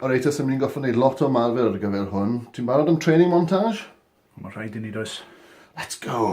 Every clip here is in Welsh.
Alright, os ydym ni'n gorfod gwneud lot o ymarfer ar gyfer hwn, ti'n barod am training montage? Mae'n rhaid i ni, does. Let's go!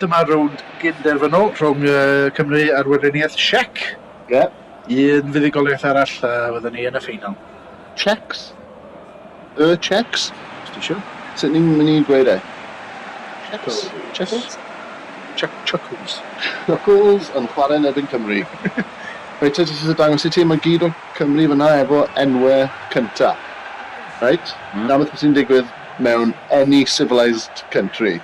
Dyma rownd gyn-derfynol rhwng Cymru a'r Weriniaeth Siec. Ie. Un fuddugoliaeth arall a fydden ni yn y ffeinal. Checs? Y checs? Os ti isio. Sut ni'n mynd i gweud e? Checs? Checs? Chuckles. Chuckles yn chwarae yn erbyn Cymru. Reit, ti eisiau dangos i ti, mae gyd o Cymru fyna efo enwau cyntaf. Reit? Na beth sy'n digwydd mewn any civilised country.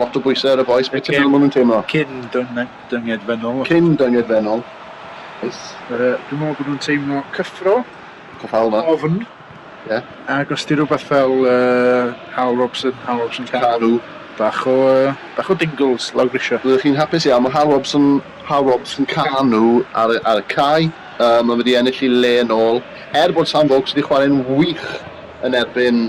Lot o bwysau ar y bois, beth ti'n meddwl maen nhw'n teimlo? Cyn dynged fennol. Cyn dynged fennol. Yes. Uh, dwi'n meddwl bod nhw'n teimlo cyffro. Cyffal yma. Ofn. Ie. Yeah. Ac os ti rhywbeth fel uh, Hal Robson, Hal Robson Caru. Bach o, uh, bach o dingles lawr grisio. Rydych chi'n hapus iawn, mae Hal Robson, Hal Robson Canu ar, ar y cae. Uh, mae wedi ennill i le yn ôl. Er bod Sam Vokes wedi chwarae'n wych yn erbyn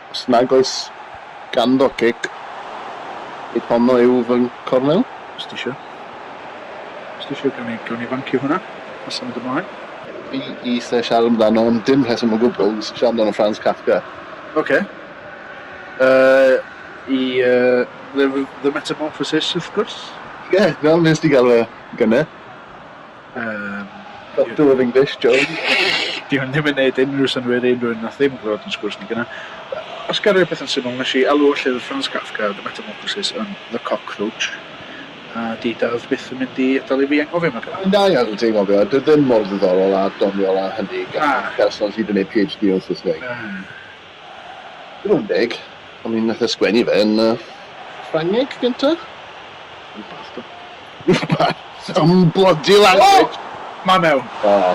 Os nag oes ganddo gig, nid honno yw fy nghornel. Os ti isio. Os ti isio, gawn ni, gawn ni fancio hwnna a symud ymlaen. Fi eisiau siarad amdano am dim rheswm o gwbl, fi eisiau siarad amdano Franz Kafka. Ok. Yy, i, yy, The Metamorphosis, wrth gwrs. Ie, fel wnest ti galw fe, gynne. Yym. Doctor of English, Jones. Dyw hyn ddim yn neud unrhyw synwyr i unrhyw un nath ddim glywed yn sgwrs ni gyna. Os ga roi peth yn syml, nesh i alw llyfr Franz Kafka, The Metamorphosis, yn The Cockroach, a di dad byth yn mynd i adal i fi anghofio am y gair. Mae'n da i adel ti anghofio, a dyw ddim mor ddiddorol a doniol a hynny gan person sydd yn neud PhD o Saesneg. Na. Dim ond deg, ond mi nath e sgwennu fe yn yy Ffrangeg gynta? Rwbath do. Rwbath! Some bloody language! O! Mae mewn. Oh.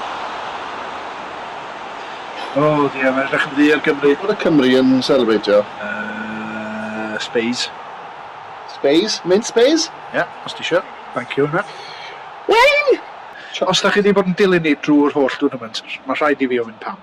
O dear, mae'n edrych yn ddu ar Gymru. Bod y Cymry yn selebreitio. Yy, Spays. Spays? Mint Spays? Ie, os ti isio. Thank you Anwen. Wing! Os da chi di bod yn dilyn ni drw'r holl dwrnament, mae rhaid i fi ofyn pam.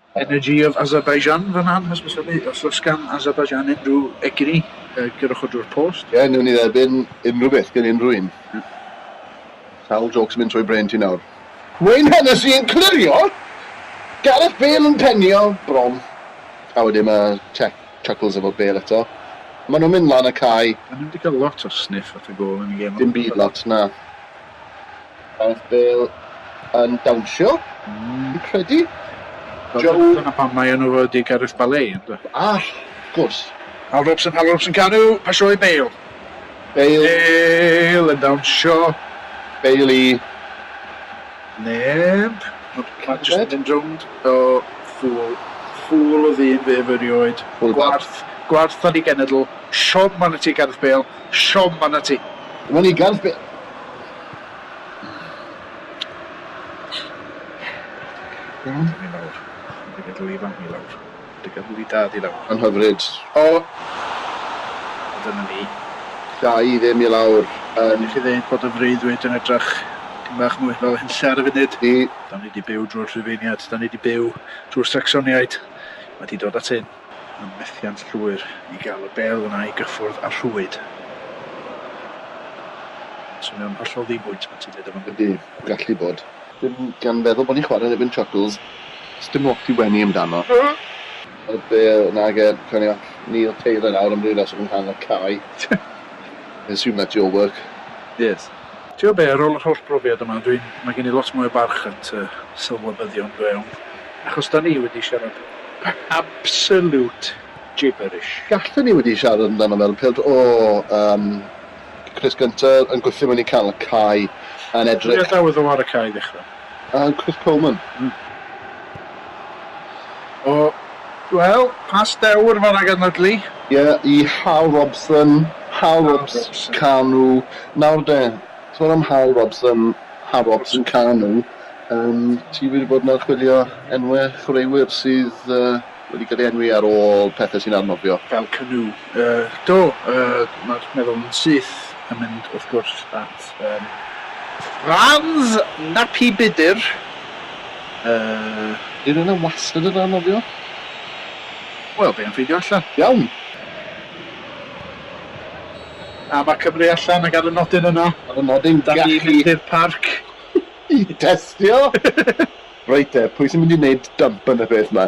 Energy of Azerbaijan fan'na yn hysbysebu os oes gan Azerbaijan unrhyw egni, gyrrwch o drwy'r post. Ie, newn ni dderbyn unrhyw beth gen unrhyw un. Sawl jôcs yn mynd trwy brên ti nawr? Wayne Hennessey yn clirio, Gareth Bale yn penio bron, a wedyn ma' Cech Chuckles efo Bale eto. Ma' nhw'n mynd lan y cae. O'n ni'm 'di cael lot o sniff at y gôl yn y gêm yma. Dim byd lot, na. Gareth Bale yn dawnsio, fi'n credu. Joe... Dyna pam mae enw fo ydi Gareth Bale, ynddo? Ah, wrth gwrs. Al Robson, Al Robson canu, pasio i Bale. Bale. Bale yn dawnsio. Bale i... Neb. Mae jyst yn mynd rownd. O, ffŵl. Ffŵl o ddyn fe ef erioed. Gwarth. Gwarth ar ei genedl. Siom arnat ti, Gareth Bale. Siom arnat ti. Dim ond ugain sbel. Iawn? Dyna ni nawr. Mynd i feddwl ifanc ni lawr. Dy gadw di dad i lawr. Yn hyfryd. O! A dyna ni. Da i ddim i lawr. Yn. Gennych chi ddeud bod y freuddwyd yn edrych dipyn bach mwy fel hunlle ar y funud? I. Da ni 'di byw drwy'r Rhufeiniaid. Da ni 'di byw drwy'r Sacsoniaid. Mae 'di dod at hyn. Mae'n methiant llwyr i gael y bêl yna i gyffwrdd â'r rhwyd. Mae'n swnio'n hollol ddi-bwynt pan ti'n dweud o fan'na. Ydy, gallu bod. Dim gan feddwl bod ni'n chwarae yn erbyn Chuckles, does dim lot i wenu amdano. Ar y bêl yna ag e, cawn ni all Neil Taylor nawr am ryw reswm yng nghanol cae. Mae'n siwmio at Joe Work. Yes. Tibod be, ar ôl yr holl brofiad yma, dwi'n, mae gen i lot mwy o barch at y sylwebyddion go iawn, achos 'dan ni wedi siarad absolute gibberish. Gallen ni wedi siarad amdano fel pêl-droed, o, yym, crys gynta yn gwthio mewn i canol y cae, yn edrych... Pwy a dawodd o ar y cae i ddechrau? A Chris Coleman. Mm. O, wel, pas dewr fanna gan Ledley. Ie, yeah, i Hal Robson, Hal Robson, Canu. Nawr de, sôn am Hal Robson, Hal Robson, Canu, um, ti wedi bod yn archwilio enwau chwaraewyr sydd uh, Wedi cael ei enwi ar ôl pethau sy'n anghofio. Fel canu. Yy, do, yy, mae'r meddwl yn syth yn mynd, wrth gwrs, at, yym, Franz Nappy Budr, yy. Ydy rhywun wastad yn anghofio? Wel, be am ffeindio allan? Iawn! A mae Cymru allan ac ar y nodyn yna, ar y nodyn, 'dan ni'n mynd i'r parc i testio! Reit te, pwy sy'n mynd i wneud dub yn y peth ma?